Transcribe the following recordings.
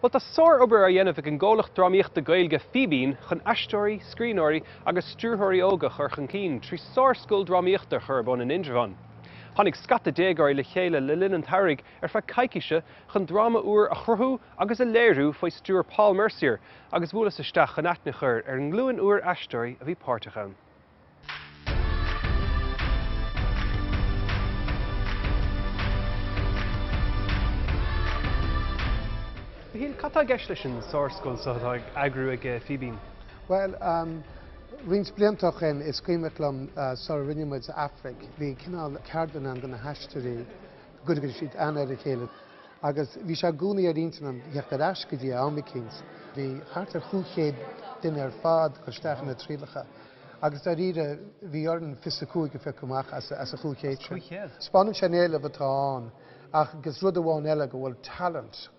Bhuel, tá sárobair á dhéanamh ag an gcomhlacht drámaíochta Gaeilge Fíbín chun aisteoirí, scríbhneoirí agus stiúrthóirí óga a chur chun cinn trí sárscoil drámaíochta a chur ar bun in Indreabhán. Tháinig scata déagóirí le chéile le linn an tsamhraidh ar feadh coicíse chun dráma úr a chruthú agus a léiriú faoi stiúir Paul Mercier agus bhuaileas isteach chun aithne a chur ar an nglúin úr aisteoirí a bhí páirteach ann. Mhichíl, cad tá i gceist leis an sárscoil seo atá ag eagrú ag Fíbín? Bhuel, roinnt blianta ó shin, is cuimhneach liom sular rinne muid Aifric, bhí cineál ceardlann ann do na haisteoirí go gcuirfeadh siad aithne ar a chéile. Agus bhí sé i gcónaí ar intinn agam thíocht ar ais go dtí é am eicínt. Bhí thart ar chúig chéad duine ar fad isteach ar na trialacha. Agus dáiríre, bhí orainn fiche is a cúig a phiocadh amach as an gcúig chéad sin. Taispeánann sé an éileamh atá ann ach, agus rud amháin eile, go bhfuil talent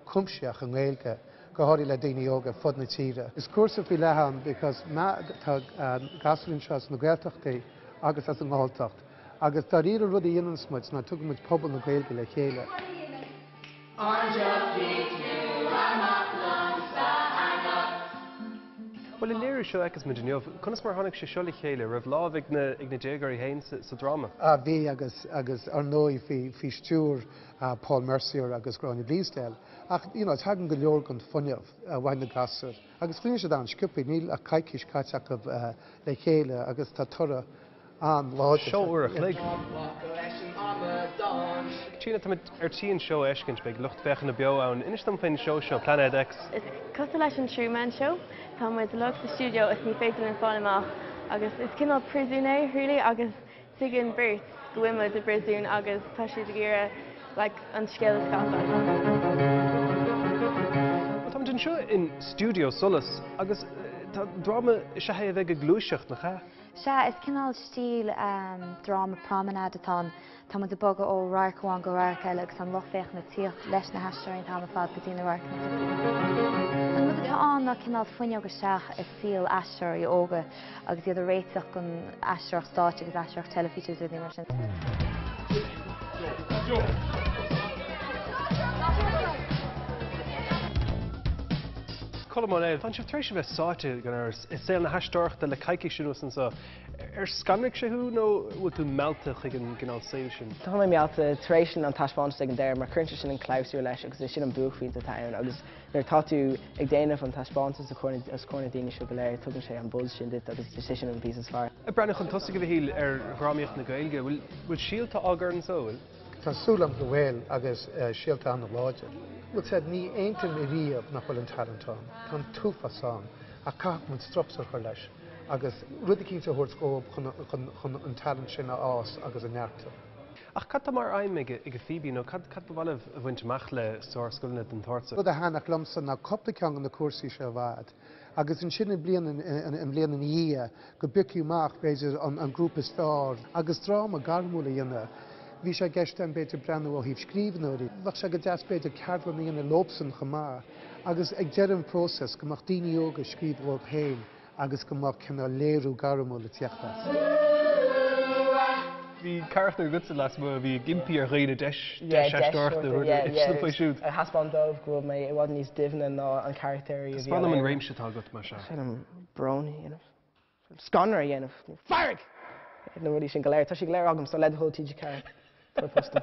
cuimseach i nGaeilge, go háirithe le daoine óga, ar fud na tíre. Is cúrsa faoi leith atá ann because tá gasúir anseo as na Gaeltachtaí agus as an nGalltacht agus dáiríre rud a dhéananns muid ná tugann muid pobal na Gaeilge le chéile. Bhuel, an léiriú seo a fheicfeas muid inniu, conas mar a tháinig sé seo le chéile? An raibh lámh ag na ag na déagóirí féin sa dráma? Ah, bhí agus agus ar ndóigh bhí faoi stiúir Paul Mercier agus Gráinne Bleasdale. Ach you know tagann go leor den fuinneamh ó na gasúir agus rinne siad an-sciobtha é, níl ach coicís caite acu le chéile agus tá toradh an lá seo uair a chloig. Trína táimid ar tí an seó a fheiscint beidh lucht féachana beo ann. Inis dom faoin seó seo, Plainéad X. Is cosúil leis an Truman Show, táimid stuck sa stiúideo is ní féidir linn fáil amach agus is cineál príosún é really agus tuigeann beirt go bhfuil muid i bpríosún agus tá siad ag iarraidh like, an scéal a scaipeadh. Táimid anseo in Studio Solas agus eh, tá an dráma seo beidh sé ag gluaiseacht nach ea? Sea, is cineál stíl dráma promenade atá ann. Tá muid ag bogadh ó radharc amháin go radharc eile agus an lucht féachana ag tíocht leis na haisteoirí an t-am ar fad go dtí na radharcanna difriúla. An rud atá ann ná cineál fuinneog isteach i saol aisteoirí óga agus iad ag réiteach don aisteoireacht stáitse agus aisteoireacht teilifíse agus rudaí mar sin. Colm Ó Néill, tá sibh tar éis a bheith sáite go domhain i saol na haisteoireachta le coicís anuas anseo. Ar scanraigh sé thú nó an bhfuil tú meallta chuig an gcineál saoil sin? Tá mé meallta tar éis an taispeántais ag an deireadh mar cuireann sé sin an clabhsúr leis agus is sin an buaicphointe atá ann agus nuair atá tú ag déanamh an taispeántais os comhair na daoine seo go léir, tugann sé an buzz sin duit agus is é sin an píosa is fearr. Ag breathnú chun tosaigh, a Mhichíl, ar dhrámaíocht na Gaeilge, bhfuil síolta á gcur anso, an bhfuil? Tá súil agam go bhfuil, agus síolta an-láidir. Bhuel, sea, ní aontaím riamh nach bhfuil an tallann ann. Tá an t-uafás ann, ach caithfidh muid structúr a chur leis, agus rud eicínt a thabhairt dhób chun an tallann sin a fhás agus a neartú. Ach cad tá mar aidhm ag Fíbín, nó cad ba mhaith libh a bhaint amach le Sárscoileanna den tsórt seo? Rud a thaitneodh liomsa ná cúpla ceann de na cúrsaí seo i bhfad. agus ansin an bhliain ina dhiaidh go bpiocfaí amach, b'fhéidir, an grúpa is fearr agus dráma gairmiúil a dhéanamh. Bhí sé i gceist agam, b'fhéidir, breathnú ó thaobh scríbhneoirí. Bheadh sé go deas, b'fhéidir, ceardlann a dhéanamh leoobsan chomh maith agus ag deireadh an phróisis go mbeadh daoine óga ag scríobh dhóibh féin agus go mbeadh cineál léiriú gairmiúil ag teacht as. Bhí carachtair agatsa lasmuigh a bhí ag impí ar dhaoine deis aisteoireachta a thabhairt dóibh siúd. Ar thaispeáin dóibh go bhfuil mé i bhfad níos doimhne ná an carachtar a bhí ann. Taispeáin dom an réimse atá agat mar seo. Féadaim brón a dhéanamh. Féadaim scanradh a dhéanamh. Féadaim fearg! Na rudaí sin go léir. Tá siad go léir agam so le do thoil TG4 tabhair post dom.